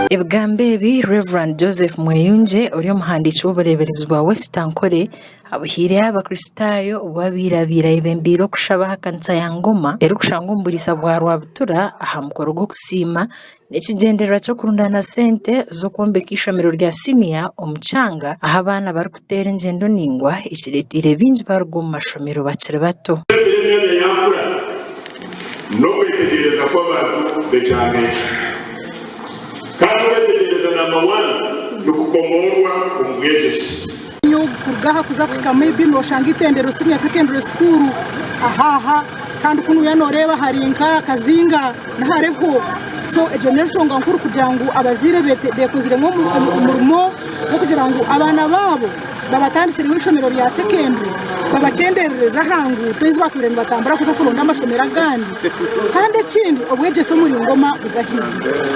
Ebigambo ebi Rev. Joseph Mweyungye ori omuhandiiki w'obureeberezi bwa Wesitankore abuhaire Abakristaayo obwo abaire abebembeire okushaba aha kanisa ya Ngoma erikushangwa omu buriisa bwa Rwabutura aha mukoro gw'okusiima N'ekigyendererwa ky'okurundaana sente z'okwombeka eishomero rya siniya omu kyanga ahu abaana barikuteera engyendo ndaingwa ekireeteire baingi baruga omu mashomero bakiri bato. Kureetera emyanya y'ankura n'okwetegyereza kw'abantu b'ekyanga ekyo kandi okwetegyereza namba wani nikukomoorwa omu bwegyese. Kuruga aha kuza kuhika maybe noshanga itendero senior secondary school aha aha kandi ku noza noreeba hari nka akazinga nihariho so egyo n'enshonga nkuru kugira ngu abazaire bekoziremu omurimo gw'okugira ngu abaana baabo babatandikireho eishomero rya secondary babakyenderereze aha nguuto ezi batwire nibatambura kuza kuronda amashomero agandi kandi ekindi obwegyese omuringoma buza haihi.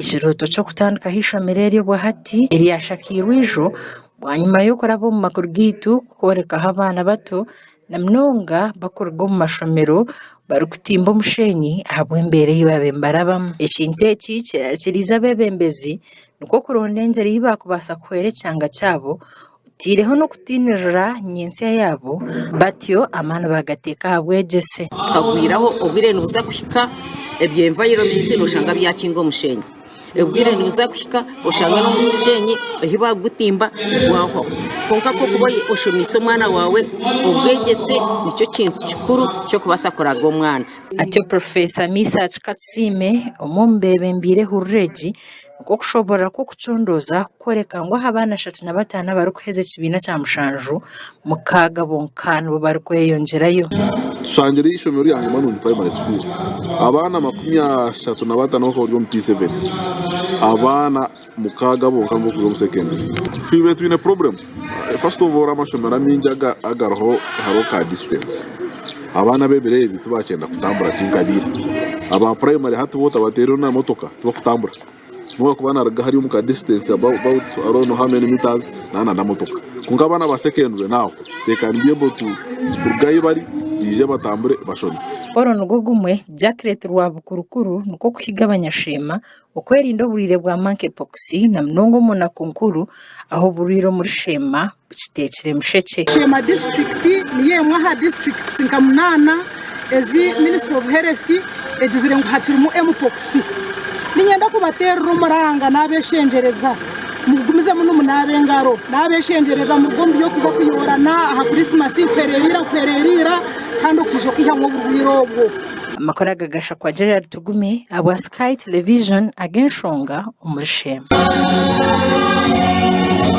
Ekirooto ky'okutandikaho eishomero eryo bwahati eryashakairwe eijo Bwanyima y'okuraba omu makuru gaitu kukworekaho abaana bato na munonga bakuruga omu mashomero barikutimba omusheenyi ahabw'embeera ei baabaire nibarabamu. Ekintu eki kiraikiriize abeebembezi nikwo kuronda engyeri ei baakubaasa kuhwera ekyanga kyabo otaireho n'okutiinirira nyentsya yaabo batyo amaani baagateeka aha bwegyese. Hagwiraho obwire nibuza kuhika ebyo environment noshanga byakinga omusheenyi. Obwire nibuza kuhika oshange n'omu kisheenyi ahu baakugutimba gwaahwaho. Kwonka ku orikuba oshomiise omwana waawe, obwegyese nikyo kintu kikuru ky'okubaasa kuraga omwana. Atyo Porofesa Mesach Katusiime, omwe omu beebembeire ehurura egi, nikwo kushoboorora kw'okucondooza Kworeka ngu aha baana ashatu na bataano abarikuheeza ekibiina kya mushanju, mukaaga bonka nibo barikweyongyerayo. Tushangire eishomero rya Ngoma Nungi Primary School abaana makumi ashatu na bataano bonka bari omu P7. Abaana mukaaga bonka nibo barikuza omu secondary. Twibaire twine problem. First of all amashomero amaingi agariho hariho ka distance. Abaana ab'ebiro ebi tibakyenda kutambura ti nka baira. Aba primary hati bo otabateerire na motoka tibakutambura. N'obu arikuba naaruga hariya omu ka distance about I don't know how many metres naaba na motoka. Kwonka abaana ba secondary naawe they can be able to kuruga ahi bari baije batambure bashome. Oro nigwo gumwe Jacklet Rwabukurukuru nikwo okuhiga abanyasheema okwerinda oburwire bwa Monkey Pox na munonga omu naku nkuru aho oburwire omuri Sheema kiteekire mushekye. Hoima disiturikiti niyo emwe aha disiturikitisi nka munaana ezi minisitule ofu heeresi egizire ngu hakirimu emupokisi. Niinyenda kubateerera omuranga n'abeeshengyereza ngu mugumizemu nimunaabe engaro. N'abeeshengyereza muruge omu by'okuza kuyoorana aha kurisimasi kuhereereira kuhereereira kandi okwiija okwihamu oburwaire obwo. Amakuru aga gashakwa Gerald Tugume abwa Sky Television ag'enshonga omuri Sheema.